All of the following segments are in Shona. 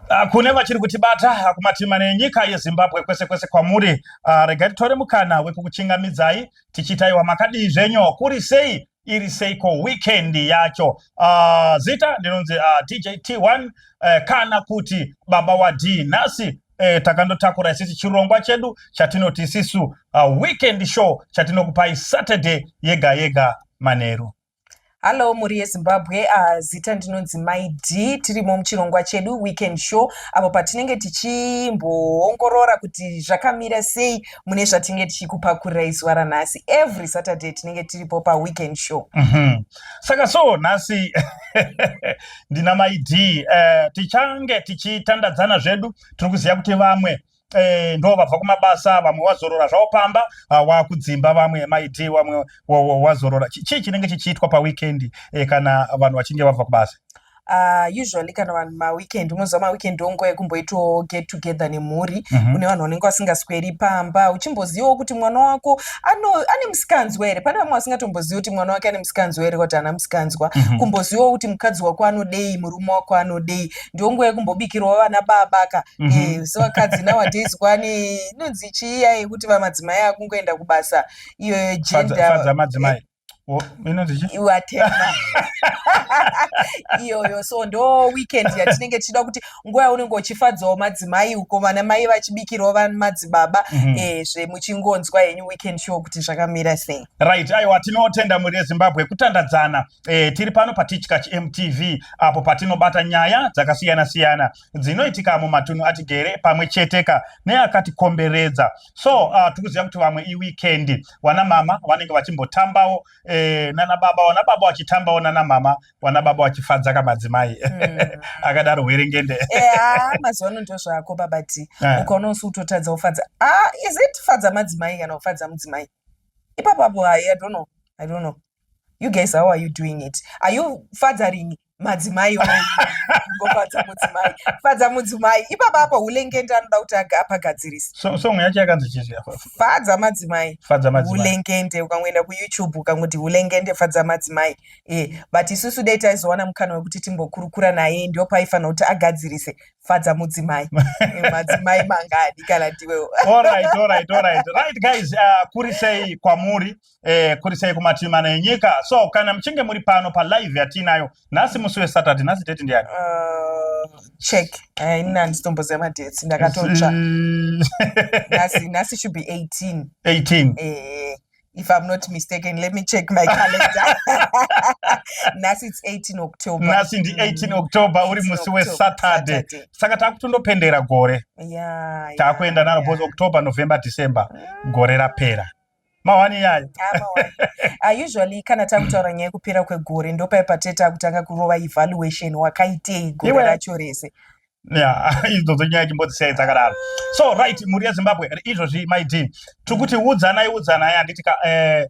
Ah, kune vachiri kutibata ah, kumatima nenyika yezimbabwe kwese kwese kwamuri ah, regai titore mukana wekukuchingamidzai tichiitaiwa makadii zvenyu kuri sei iri seiko weekend yacho uh, zita ndinonzi uh, dj t1 uh, eh, kana kuti baba wadii nhasi eh, takandotakura isisi chirongwa chedu chatinoti isisu uh, weekend show chatinokupai saturday yega yega manheru Hallo mhuri yezimbabwe uh, zita ndinonzi myd tirimo muchirongwa chedu weekend show apo patinenge tichimboongorora kuti zvakamira sei mune zvatinenge tichikupakurira izuva ranhasi every saturday tinenge tiripo paweekend show mm -hmm. saka so nhasi ndina myd uh, eh, tichange tichitandadzana zvedu tiri kuziva kuti vamwe eh, ndo vabva kumabasa vamwe wazorora zvavo pamba ah, wakudzimba vamwe maid wamwe wazorora chii chinenge chichiitwa paweekend eh, kana vanhu vachinge vabva kubasa Uh, usually kana vanhu maweekend unoziva maweekend onguva yekumboitawo get together nemhuri mm -hmm. une vanhu vanenge vasingasweri pamba uchimbozivawo kuti mwana wako ano, ane musikanzwa here pane vamwe vasingatombozivi kuti mwana wake ane musikanzwa here kuti ana musikanzwa mm -hmm. kumbozivawo kuti mukadzi wako anodei murume wako anodei ndonguva yekumbobikirwa vana baba ka mm -hmm. e, so vakadzi nowadays kwani inonzi chiiya yekuti vamadzimai akungoenda kubasa iyo yegendermadzimai whatever iyoyo so ndo weekend yatinenge tichida kuti nguva yaunenge uchifadzawo madzimai uko vana mai vachibikirwa vamadzibaba mm -hmm. e, eh, zvemuchingonzwa henyu weekend show kuti zvakamira sei right aiwa tinotenda mhuri yezimbabwe kutandadzana E, tiri pano patichkach mtv apo patinobata nyaya dzakasiyana siyana dzinoitika mumatunhu atigere pamwe cheteka neakatikomberedza so uh, tikuziva kuti vamwe iwikendi wana mama vanenge vachimbotambawo e, nana baba wana baba vachitambawo nana mama wana baba vachifadza kamadzimai mm. akadaro hwerengende yeah, mazuva ano ndo zvako babati yeah. ukaona usi utotadza ufadza ah, is it fadza madzimai kana ufadza mudzimai ipapapo i don't know i don't know you guys how are you doing it are you fathering madzimai gofadza mudzimai fadza mudzimai ipapa apa hulengende anoda kuti apagadzirisa song yacho yakanzi chizvi fadza madzimai hulengende ukangoenda kuyoutube ukangoti hulengende fadza madzimai e but isusu dai taizowana mukana wekuti timbokurukura naye ndio paifanira kuti agadzirise fadza mudzimai eh, madzimai mangani kana ndiwewo right, right, right. right guys uh, kuri sei kwamuri eh, kuri sei kumativi mana enyika so kana muchinge muri pano palive yatiinayo nhasi musi wesaturday nhasi date ndiyani uh, check eh, ini handitomboziva madates ndakatotsva nhasi nhasi should be 18 18 eh, if i'm not mistaken let me check my calendar nhasi its 18 october nhasi ndi 18 mm. october uri musi wesaturday saka taakutondopendera gore yeah, taakuenda yeah, naro yeah. bcause october november december mm. gore rapera mahwani yayo ah, ah, usually kana takutaura nyaya yekupera kwegore ndopaye patete akutanga kurova evaluation wakaitei gore racho rese idzodzo nyaya chimbodzisiyai dzakadaro so right mhuri yezimbabwe izvozvi my dean tiri kuti udzanai udzanai handiti ka eh,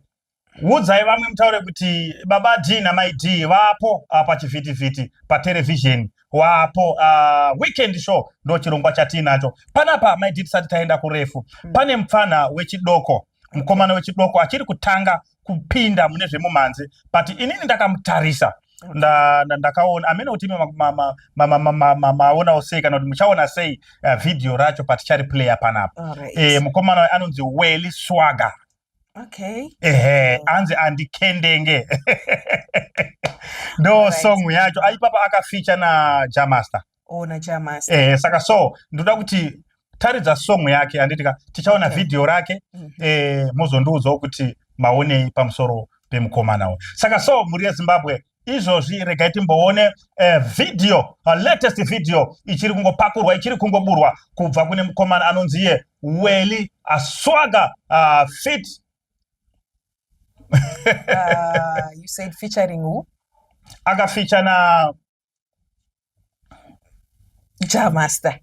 udzai vamwe mutaure kuti baba d namai d vapo ah, pachivhitivhiti paterevhizheni wapo uh, weekend show ndo chirongwa chatiinacho panapa maidi tisati taenda kurefu mm. pane mupfanha wechidoko mukomana wechidoko achiri kutanga kupinda mune zvemumhanzi but inini ndakamutarisa ndakaona amene kuti imi maonawo sei kana kuti muchaona sei eh, vhidhiyo racho patichari player panapa eh, mukomana anonzi welly swaga okay ehe anzi andikendenge ndo right. song yacho aipapa akafeature na jamaster oh na jamaster ehe saka so ndoda kuti taridza song yake anditika tichaona okay. video rake mm -hmm. eh mozondiudzawo kuti maonei pamusoro pemukomana uyu saka so mhuri yezimbabwe izvozvi regai timboone eh, video uh, latest video ichiri kungopakurwa ichiri kungoburwa kubva kune mukomana anonzi iye weli aswaga uh, fit uh, you said featuring who? akafeature na jamaster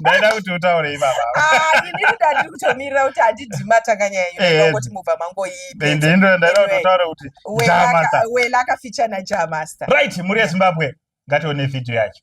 ndaida kuti utaure ivava ah, ini ndandiri kutomirira kuti handidi matanganya yenyoti mubva mangoiindoendaida kuti utaure kuti wela akaficha najamaster right mhuri yezimbabwe ngatione vhidhiyo yacho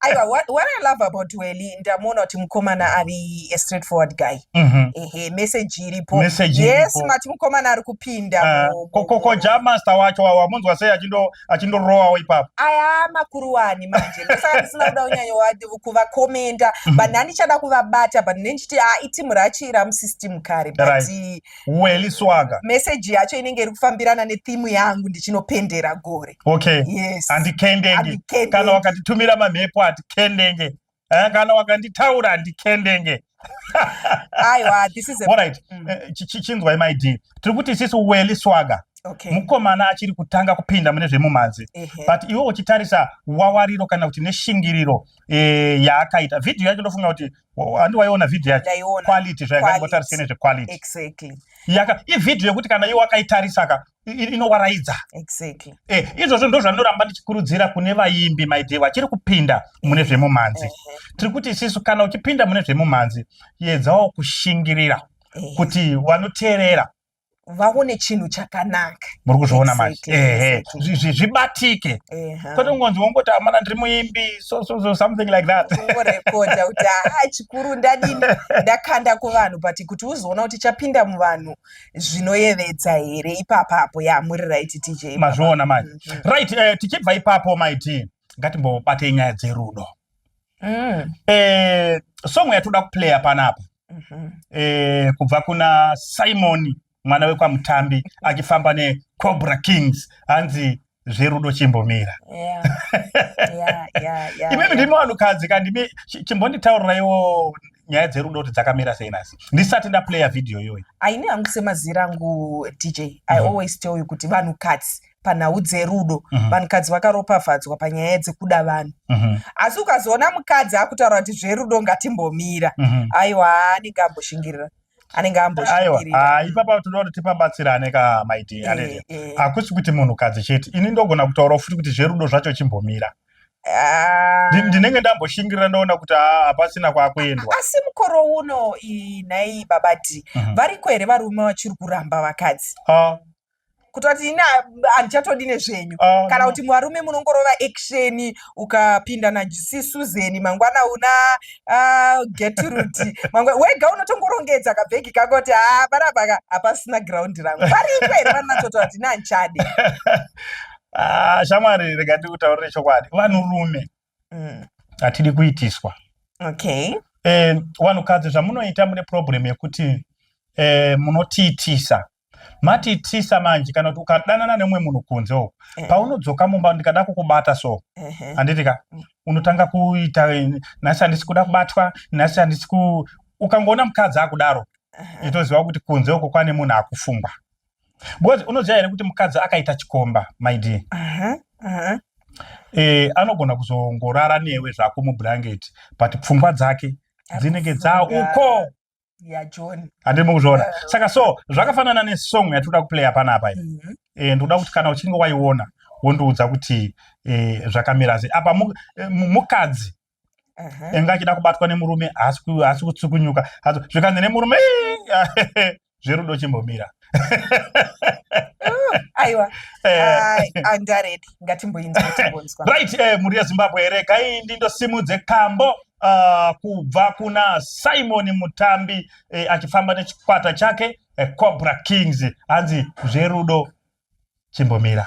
aiwa what, what i love about welly ndamuona kuti mukomana ari a straight forward guy mm-hmm. ehe message iripo yes mati mukomana ari kupinda ah, koko jamaster wacho wamunzwa sei achindorowawo ipapo aya makuru wani manje ndosaka ndisina kuda kunyanya kuvakomenda mm-hmm. but ndandichada kuvabata but nendichiti a ah, itimu rachira musystem kare but right. weli swaga meseji yacho inenge iri kufambirana nethimu yangu ndichinopendera gore okay yes handikendenge kana wakatitumira mamhepo hatikendenge eh, kana wakanditaura handikendenge aiwa this is alright mm. eh, chinzwai my dear tiri kuti sisi weli swaga Okay. mukomana achiri kutanga kupinda mune zvemumhanzi uh -huh. but iwe uchitarisa wawariro kana kuti neshingiriro e, yaakaita vhidhiyo yacho ndofunga kuti handi waiona vhidhiyo yacho Ndaiona. quality zvayakangotarisei Quality. nezvequality exactly yaka ivhidhiyo yekuti kana iwe wakaitarisaka i- i- inowaraidza exactly Eh, izvozvo ndo zvandinoramba ndichikurudzira kune vaimbi maidhee vachiri kupinda mune zvemumhanzi Ehe, tiri kuti isisu kana uchipinda mune zvemumhanzi yedzawo kushingirira ehe. kuti vanoteerera vaone chinhu chakanaka muri kuzviona manje ehe zvibatike kwete kungonzi wongoti amana ndiri muimbi so so so something like that ungorekodha kuti haa chikuru ndadini ndakanda kuvanhu but kuti uzoona kuti chapinda muvanhu zvinoyevedza here ipapapo ya muri right tj mazviona manje mhm. right eh, tichibva ipapo maiti ngatimbobatei nyaya dzerudo mm. eh, song yatoda kuplaya panapa mhm. eh, kubva kuna simoni mwana wekwamutambi achifamba necobra kings hanzi zverudo chimbomira imimi ndimi vanhukadzi kandimi chimbonditaurirayiwo nyaya dzerudo kuti dzakamira sei nasi ndisati ndaplaya vhidhiyo iyoyi aine hangu semazira angu dj i mm. always tell you kuti vanhukadzi panhau dzerudo mm -hmm. vanhukadzi vakaropafadzwa panyaya dzekuda vanhu mm -hmm. asi ukazoona mukadzi akutaura kuti zverudo ngatimbomira mm -hmm. aiwa anenge amboshingirira anenge amboshingirira ipapa tinoda kuti tipabatsirane ka maiti eh, alelia eh. hakusi kuti munhukadzi chete ini ndogona kutaura futi kuti zverudo zvacho chimbomira Ah. ndinenge ndamboshingirira ndaona kuti ah, hapasina kwakuendwa asi mukoro uno nhai babati mhm. variko here varume vachiri kuramba vakadzi ah. kutoti ini handichatodi nezvenyu ah, kana kuti mwarume munongorova action ukapinda najisi suzeni mangwana una ah, getrudi wega unotongorongetsa kabhegi kako kuti ah, panapaka hapasina graundi rangu paripo here vanatotaura kuti ini handichadi shamwari rega ndikutaurire chokwadi vanhurume mm. hatidi kuitiswa okay. eh, vanhukadzi zvamunoita mune problem yekuti eh, munotiitisa matiitisa manje kana kuti ukadanana nemumwe munhu kunze uku eh. paunodzoka mumba ndikada kukubata so handiti ka mm. unotanga kuita nhasi handisi kuda kubatwa nhasi handisi ku ukangoona mukadzi akudaro itoziva kuti kunze uko kwane munhu akufungwa because unoziva here kuti mukadzi akaita chikomba my dear uh -huh. Uh -huh. Eh, anogona kuzongorara newe zvako mublanketi but pfungwa dzake dzinenge dzaa uko yajoni handiri mukuzviona uh, saka so zvakafanana nesong yatinoda kuplaya panapa iyi mm -hmm. e, ndikuda kuti kana uchinge waiona wondiudza kuti e, zvakamira sei apa eh, mukadzi enge achida kubatwa nemurume haasi kutsukunyuka hazo zvikanzi nemurume zverudo chimbomira oh, aiwa andaredi eh. ah, ngatimboinzwa right eh, mhuri yezimbabwe here kaindi ndosimudze kambo Uh, kubva kuna simon mutambi eh, achifamba nechikwata chake eh, cobra kings hanzi zverudo chimbomira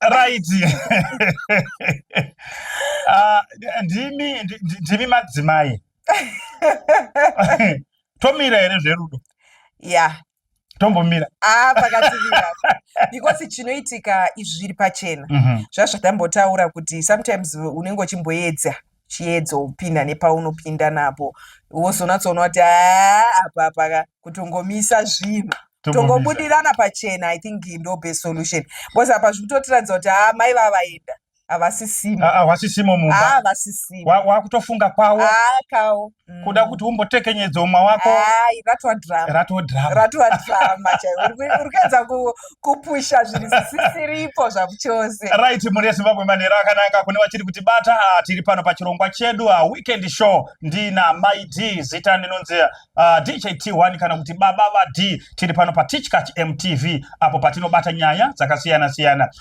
raiti ah, ndimi ndimi madzimai tomira here zverudo ya tombomira ah, pakativira because chinoitika izvi zviri pachena mhm. zvazvatambotaura kuti sometimes unenge uchimboedza chiedzo upinda nepaunopinda napo wozonatsoona kuti ah, apa paka kutongomisa zvinhu tongobudirana pachena i think ndo best solution because apa zviri kutotiratidza kuti haa ah, mai vavaenda havasisimo havasisimo mumba havasisimo wakutofunga kwawo akawo mm. kuda kuti umbotekenyedza umwe wako hai ratwa drama ratwa drama ratwa drama chaiwo uri kuedza kupusha zvinhu zvisisiripo zvakuchose right mhuri yezimbabwe manhero akanaka kune vachiri kuti bata ah, tiri pano pachirongwa chedu ah, weekend show ndina mai d zita ndinonzi uh, ah, dht1 kana kuti baba vadi tiri pano patichkach mtv apo patinobata nyaya dzakasiyana siyana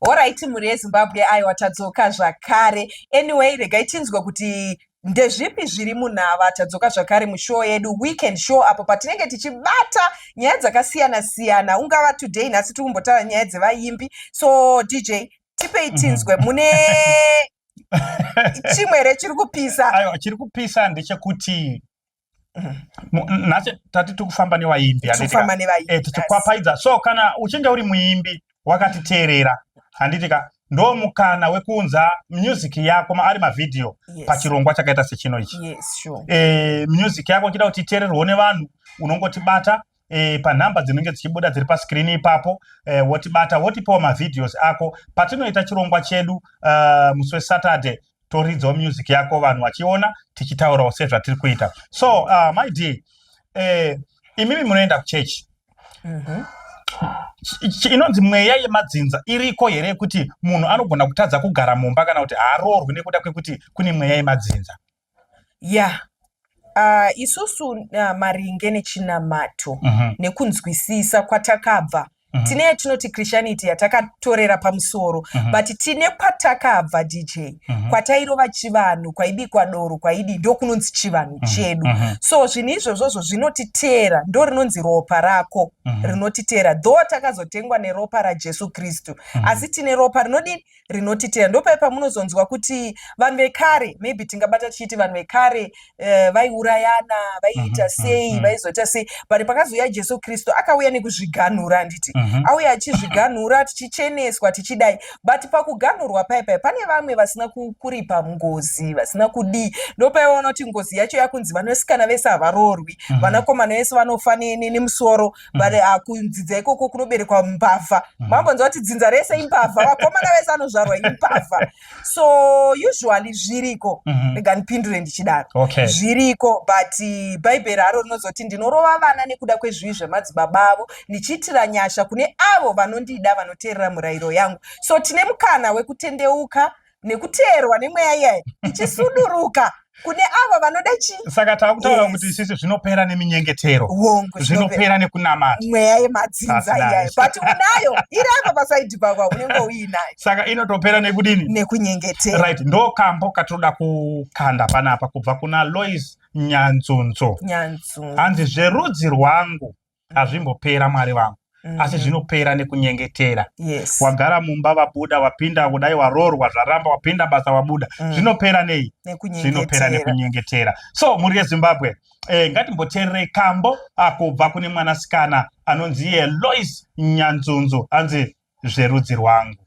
horaiti mhuri yezimbabwe aiwa tadzoka zvakare anyway regai tinzwe kuti ndezvipi zviri munhava tadzoka zvakare mushow yedu weekend show apo patinenge tichibata nyaya dzakasiyana siyana ungava today nhasi tiri kumbotaura nyaya dzevaimbi so dj tipei mhm. tinzwe mune chimwe here chiri kupisa aiwa chiri kupisa ndechekuti mm-hmm. nhasi tati tikufamba nevaimbi eh, tichikwapaidza so kana uchinge uri muimbi wakatiteerera handiti ka ndo mukana wekuunza music yako ari mavhidhiyo yes. pachirongwa chakaita sechino ichi yes, sure. e, music yako chida kuti iteererwo nevanhu unongotibata e, panhamba dzinenge dzichibuda dziri paskirini ipapo e, wotibata wotipawo mavideos ako patinoita chirongwa chedu uh, musi wesaturday toridzawo music yako vanhu vachiona tichitaurawo sezvatiri kuita so uh, my dear e, imimi munoenda kuchechi mm -hmm inonzi mweya yemadzinza iriko here yekuti munhu anogona kutadza kugara mumba kana kuti haaroorwi nekuda kwekuti kune mweya yemadzinza Yeah. Uh, isusu uh, maringe nechinamato mm -hmm. nekunzwisisa kwatakabva mm -hmm. tine yatinoti christianity yatakatorera pamusoro mm -hmm. but tine kwatakabva dj mm -hmm. kwatairova chivanhu kwaibikwa doro kwaidi ndokunonzi chivanhu mm -hmm. chedu mm -hmm. so zvinhu izvozvozvo zvinotiteera ndo rinonzi ropa rako mm -hmm. rinotiteera dho takazotengwa neropa rajesu kristu mm -hmm. asi tine ropa rinodini rinoti tea ndopai pamunozonzwa kuti vanhu vekare maybe tingabata tichiti vanhu vekare uh, vaiurayana vaiita mhm, sei mhm. vaizoita sei but pakazouya jesu kristu akauya nekuzviganhura handiti mhm. auya achizviganhura tichicheneswa tichidai but pakuganhurwa paipai pane vamwe vasina kuripa ngozi vasina kudii ndopaivaona kuti ngozi yacho yakunzi vanosikana vese havaroorwi vanakomana vese vanofa nemusoro but mm. ah, kunzidza ikoko kunoberekwa mbavha mm. mambonzwa kuti dzinza rese imbavha vakomana vese anozvarwa imbavha so usually zviriko mm-hmm. rega ndipindure ndichidaro zviriko but eh, bhaibheri haro rinozoti ndinorova vana nekuda kwezvivi zvemadzibaba avo ndichiitira nyasha kune avo vanondida vanoteerera murayiro yangu so tine mukana wekutendeuka nekuteerwa nemweya iyayi ichisuduruka kune avo vanoda chii saka tava kutaura Yes. kuti sisi zvinopera neminyengetero hongu zvinopera zvinopera nekunamata mweya yemadzinza That's nice. iyayo but unayo iri apa pasaidhi pakwa unenge uinayo saka inotopera nekudini nekunyengetera right ndo kambo katinoda kukanda panapa kubva kuna lois nyanzunzo nyanzunza hanzi zverudzi rwangu hazvimbopera mwari vangu mm. asi zvinopera nekunyengetera yes. wagara mumba vabuda wapinda kudai waroorwa zvaramba wapinda basa wabuda mm. zvinopera nei zvinopera nekunyengetera so mhuri yezimbabwe eh, ngatimboteererei kambo akubva kune mwanasikana anonzi yelois nyanzunzu anzi zverudzi rwangu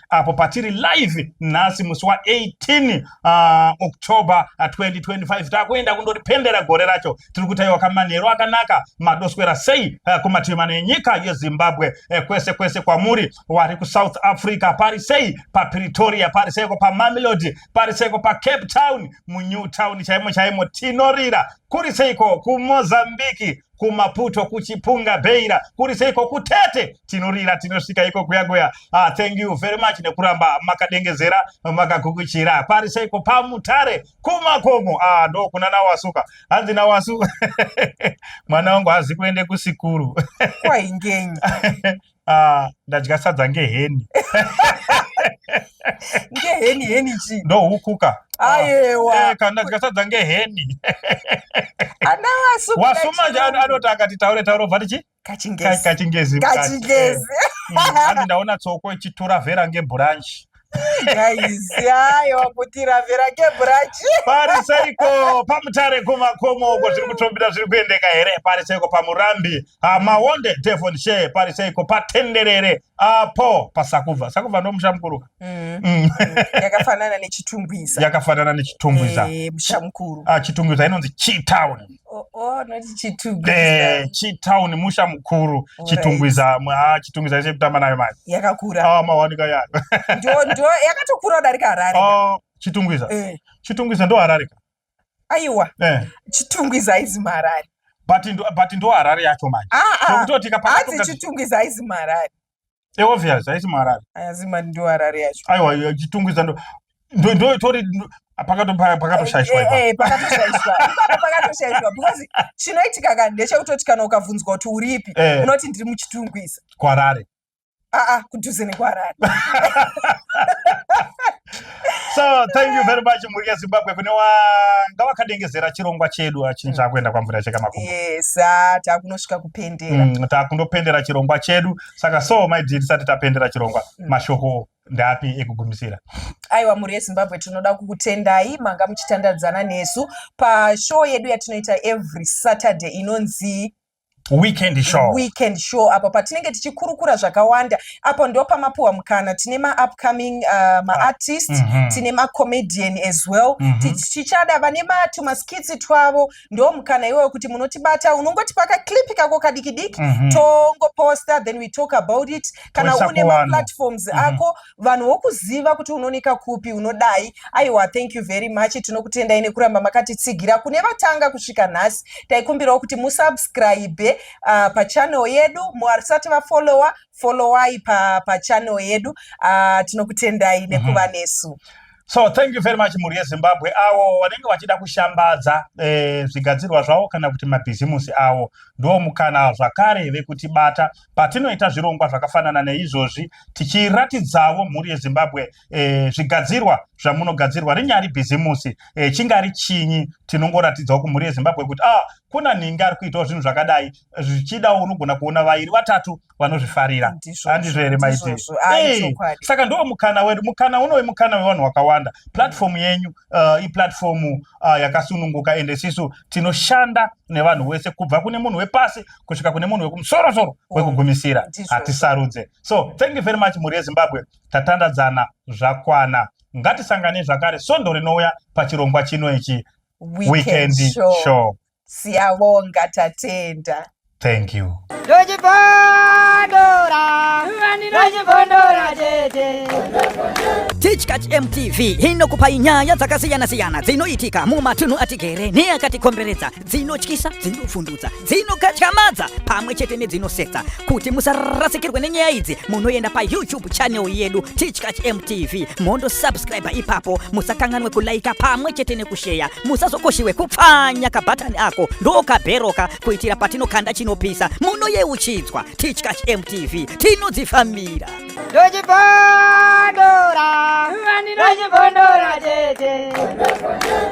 apo patiri live nhasi musi wa18 uh, ah, october 2025 ah, takuenda kundoripendera gore racho tiri kutaiwa kamanheru akanaka madoswera sei uh, kumativi mana enyika yezimbabwe uh, kwese kwese kwamuri wari kusouth africa pari sei papretoria pari seiko pamamelodi pari seiko pacape town munew town chaimo chaimo tinorira kuri seiko kumozambiki kumaputo kuchipunga beira kuri seiko kutete tinorira tinosvika iko kuyakuya ah, thank you very much nekuramba makadengezera makagukuchira pari seiko pamutare kumakomo ah, ndo kuna nawasuka hanzi nawasu mwana wangu hazi kuende kusikuru kwaingenyi Ah, ndadya sadza ngeheni ngeheni heni chii ndohukuka ayewa Eh, kana ndadya sadza ngeheni ana wasu wasuma nje ano- anoti akati taure taure obva tichi kachingezi kachingezi mukati. kachingezi Eh, mm, hanzi ndaona tsoko ichitura vera ngebhuranchi pariseiko pamutare kumakomo uko zviri kutombira zviri kuendeka here pariseiko pamurambi ah, mawonde devon she pariseiko patenderere apo pasakubva sakubva ndomusha mukuru ka mm. mm. yakafanana nechitumbwiza yakafanana nechitumbwiza eh, musha mukuru ah, chitumbwiza inonzi chitown Oh, oh, eh, chitown musha mukuru chitungwiza ah, chitungwiza ise kutamba nayo mari yakakura ah, mawanika yayo ndo yakatokura kudarika harare ah, chitungwiza eh. chitungwiza ndo harare ka aiwa eh. chitungwiza aizi maharare but ndo harare yacho manje zvokutoti kapaazi chitungwiza aizi maharare eobvious haisi muharare aya zimba ndiwo harare yacho aiwa chitungwiza ndo ndo ndo itori ndo- pakato pa- pakatoshaishwa ipa Eh, eh, pakatoshaishwa Ipapo pakatoshaishwa because chinoitika ka ndechekutoti kana ukabvunzwa kuti uripi Eh. unoti ndiri muchitungwiza kuharare aa kudhuze nekuharare so thank you very much mhuri yezimbabwe kune wanga wakadengezera chirongwa chedu achinja akuenda kwamvura cheka makumbo yes ah, takunosvika kupendera mm, takundopendera chirongwa chedu saka so my dear tisati tapendera chirongwa mm. mashoko ndapi ekugumisira aiwa mhuri yezimbabwe tinoda kukutendai manga muchitandadzana nesu pashow yedu yatinoita every saturday inonzi weekend show weekend show apo patinenge tichikurukura zvakawanda apo ndo pamapuwa mukana tine maupcoming uh, maartist mm -hmm. tine macomedian as well mm -hmm. tichada vane matumaskitsi twavo ndo mukana iwoyo kuti munotibata unongoti pakaclip kako kadikidiki mm -hmm. tongoposta then we talk about it kana une maplatforms mm -hmm. ako vanhu wokuziva kuti unonika kupi unodai aiwa thank you very much tinokutendai nekuramba makatitsigira kune vatanga kusvika nhasi taikumbirawo kuti musubscribe uh, pachannel yedu musati vafollowa followai pachannel pa yedu uh, tinokutendai mhm. nekuva nesu mm -hmm. So thank you very much mhuri yeZimbabwe awo vanenge vachida kushambadza eh, zvigadzirwa zvavo kana kuti mabhizimusi awo ndiwo mukana zvakare vekutibata patinoita zvirongwa zvakafanana neizvozvi tichiratidzavo mhuri yezimbabwe e, zvigadzirwa zvamunogadzirwa rinyari bhizimusi e, chingari chinyi tinongoratidzawo kumhuri yezimbabwe kuti ah, kuna nhingi ari kuitawo zvinhu zvakadai zvichidawo unogona kuona vairi vatatu vanozvifarira handizvo here maiti eh, saka ndo mukana wedu mukana unowe mukana wevanhu wakawanda platform mm. yenyu uh, iplatform uh, yakasununguka ende sisu tinoshanda nevanhu wese kubva kune munhu wepasi kusvika kune munhu wekumusoro soro mm. wekugumisira hatisarudze so thank you very much mhuri yezimbabwe tatandadzana zvakwana ngatisangane zvakare sondo rinouya pachirongwa chino ichi weekend show siyabonga tatenda thank you tichkach mtv inokupai nyaya dzakasiyana-siyana dzinoitika mumatunhu atigere neakatikomberedza dzinotyisa dzinopfundutsa dzinokatyamadza pamwe chete nedzinosetsa kuti musarasikirwe nenyaya idzi munoenda payoutube channel yedu tichkach mtv mondo subscribe ipapo musakanganwe kulaika pamwe chete nekusheya musazokoshiwe kupfanya kabhatani ako ndokabheroka kuitira patinokanda chinopisa munoyeuchidzwa tichkach mtv tinodzifambira ndochipondora ndochipondora chete